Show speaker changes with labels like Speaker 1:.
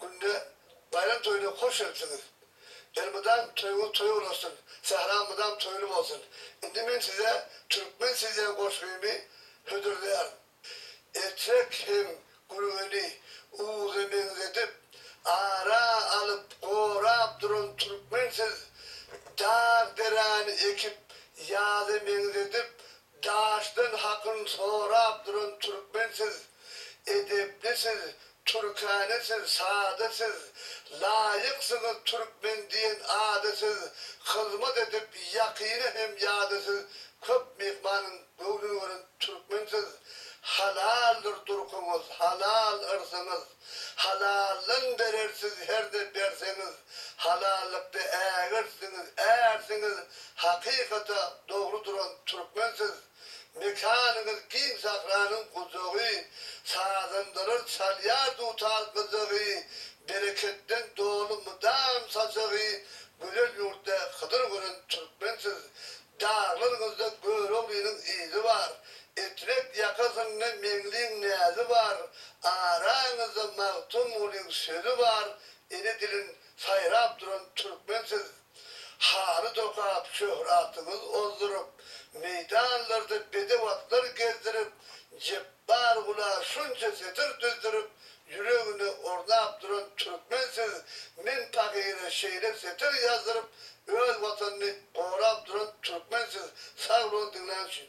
Speaker 1: günde baýram toýuna hoş gelipsiňiz. Elmydam toýuňyz toý olasyn, sähra mydam toýly bolsun. Indi men size Türkmen sizýan goşgymy hödürleýärin. Etrek hem Gülgeni Uwuza meňzedip, ara alyp, gorap duran Türkmen siz, dag-deräni ekip, ýaza meňzedip, Daşdan hakyn sorap duran türkmen siz edepli siz türkane siz sada siz laýyksyňyz türkmen diýen ada siz hyzmat edip ýakyna hem ýada siz köp myhmanyň göwnüni gören türkmen siz halaldyr durkuňyz halal yrsyňyz Halaldan berer siz herde berseňiz halallykda ägirtsiňiz ärsiňiz hakykata dogry duran türkmen siz mekanyňyz giň sahranyň gujagy sazandalar çalýar dutar gyjagy bereketden doly mydam sajagy gözel ýurtda hydyr gören türkmen siz Daglyr gyzda Göroglynyň yzy bar, Etrek ýakasynda Meňliň näzi bar, Araňyzda Magtymgulyň sözi bar, Ene dilin saýrap duran türkmen siz. Haly dokap şöhratyňyz ozduryp, Meýdanlarda bedew atlar gezdirip, Jepbar gula şunça setir düzdürip, Ýüregine ornap duran türkmen siz Men pahyra şeýle setir ýazdyryp Öz watanyny gorap duran türkmen siz Sag boluň diňlän üçin.